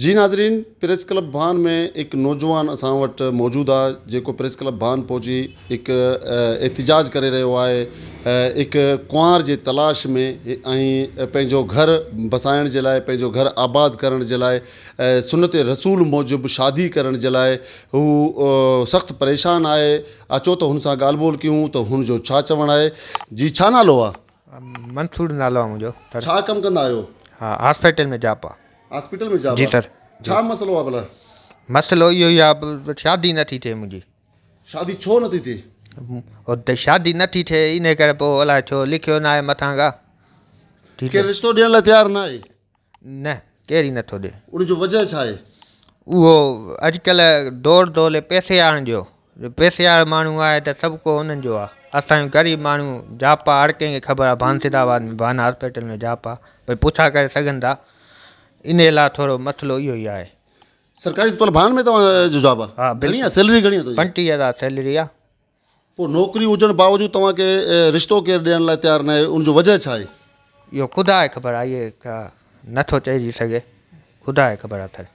جي ناظرين press club Bhan ۾ هڪ نوجوان اسان وٽ موجود آ جيڪو پريس ڪلب ڀان پهچي هڪ احتجاج ڪري رهيو آهي هڪ ڪنوار جي تلاش ۾ ۽ پنهنجو گهر بسائڻ جي لاء پنهنجو گهر آباد ڪرڻ جي لاء سنت رسول موجب شادي ڪرڻ جي لاء هو سخت پريشان آهي اچو ته هن سان ڳالهه ٻولهه ڪيون ته هن جو ڇا چوڻ آهي جي ڇا نالو آ منصور نالو آ منهنجو ڇا ڪم ڪندا آهيو ها هاسپيٽل ۾ جاب آ جي سر مسئلو اهو ئي آهي شادي نٿي ٿئي منهنجي شادي ڇو نٿي ٿئي اتي شادي نٿي ٿئي ان ڪري پوء الائي ڇو لکيو نه آهي مٿان کا ڪير رشتو ڏيڻ لاء تيار نه آهي نه ڪير ئي نٿو ڏي ان جو وجه ڇا آهي اهو اڄڪلهه دور دولي پئسي آڻ ڏيو جو پئسي وارا ماڻهو آهي ته سڀ ڪو انهن جو آهي اسان جون غريب ماڻهو جاپا هر ڪنهن کي خبر آهي بانسيد آباد ۾ بان هاسپيٽل ۾ جاپا ڀاء پڇا ڪري سگهن ٿا انهي لاء ٿورو مسلو اهو ئي آهي سرڪاري اسپتال بان ۾ توهان جو جاب آهي ها گهڻي آهي سيلري گهڻي آهي پنٽيهه هزار سيلري آهي پوء نوڪري هجڻ باوجود توهان کي رشتو ڪير ڏيڻ لاء تيار ناهي ان جو وجهه ڇا آهي اهو خدا کي خبر آهي اهي نٿو چئجي سگهي خدا کي خبر اٿن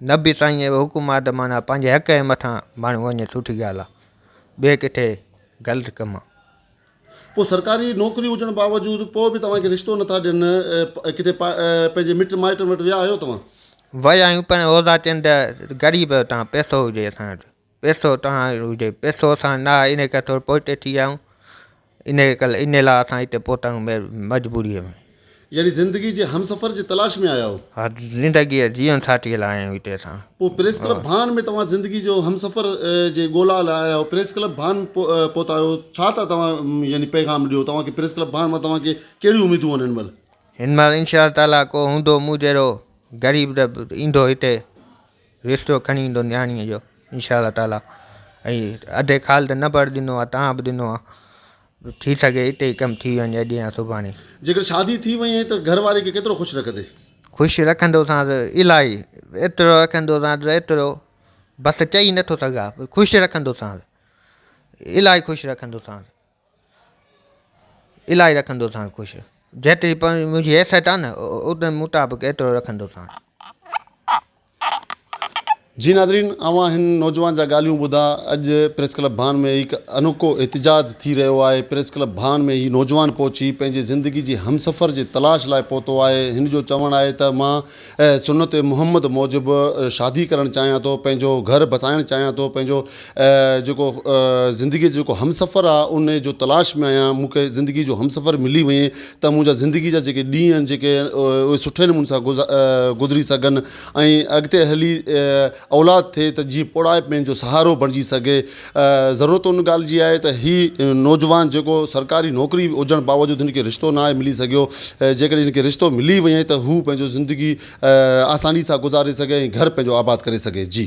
نه به سائين اهو حڪم آهي ته معنيٰ پنهنجي حق جي مٿان ماڻهو وڃي سٺي ڳالهه آهي ٻئي ڪٿي غلط ڪم آهي. پوء سرڪاري نوڪري هجڻ باوجود پوء به توهان کي رشتو نه ٿا ڏين ڪٿي پنهنجي مٽ مائٽن وٽ ويا آهيو توهان؟ ويا آهيون پر عهدا چين ته غريب تان پئسو هجي اسان وٽ پيسو توهان جو هجي پيسو اسان نه آهي ان ڪري ٿورو پوئتي ٿي ويا آهيون ان ڪري ان لاء اسان هتي پهتا آهيون مجبوريء ۾. يعني زندگي جي همسفر جي تلاش ۾ آيا آهيو؟ ها زندگيء جي جيون ساٿيء لاء آيا آهيون هتي اسان. پوء پريس ڪلب ڀان ۾ توهان زندگي جو همسفر جي ڳولا لاء آيا آهيو پريس ڪلب ڀان پهتا آهيو ڇا ٿا توهان يعني پيغام ڏيو توهان کي پريس ڪلب ڀان مان توهان کي ڪهڙيون اميدون آهن هن مهل؟ هن مهل انشاء تعاليٰ ڪو هوندو مون جهڙو غريب ته ايندو هتي. رشتو کڻي ايندو نياڻيء جو انشاء الله تعالٰي ۽ اڌي خال ته نه پر ڏنو آهي تان به ڏنو آهي ٿي سگهي هتي ئي ڪم ٿي وڃي اڄ يا سڀاڻي جيڪڏهن شادي ٿي وئي ته گهر واري کي ڪيترو خوش رکندي؟ خوش رکندوسانس الاهي ايترو رکندوسانس ايترو بس چئي نٿو سگهان خوش رکندوسانس الاهي خوش رکندوسانس الاهي رکندو ساڻ خوش. جيتري منهنجي حيثيت آ نه ان مطابق ايترو رکندو ساڻ. جي ناظرين اوهان هن نوجوان جا ڳالهيون ٻڌا اڄ پريس ڪلب ڀان ۾ هڪ انوکو احتجاج ٿي رهيو آهي پريس ڪلب ڀان ۾ هي نوجوان پهچي پنهنجي زندگي جي همسفر جي تلاش لاء پهتو آهي هن جو چوڻ آهي ته مان اي سنت محمد موجب شادي ڪرڻ چاهيان ٿو پنهنجو گهر بسائڻ چاهيان ٿو پنهنجو جيڪو زندگي جو جيڪو همسفر آ ان جو تلاش ۾ آهيان مون کي زندگي جو همسفر ملي وئي ته منهنجا زندگي جا جيڪي ڏينهن آهن جيڪي اهي سٺي نموني سان گذري سگهن ۽ اڳتي هلي اولاد ٿئي ته جيئن پوڙهائپ ۾ هن جو سهارو بڻجي سگهي. ضرورت ان ڳالهه جي آهي ته هي نوجوان جيڪو سرڪاري نوڪري هجڻ باوجود هن کي رشتو ناهي ملي سگهيو، جيڪڏهن هن کي رشتو ملي وڃي ته هو پنهنجو زندگي آساني سان گذاري سگهي ۽ گهر پنهنجو آباد ڪري سگهي. جي.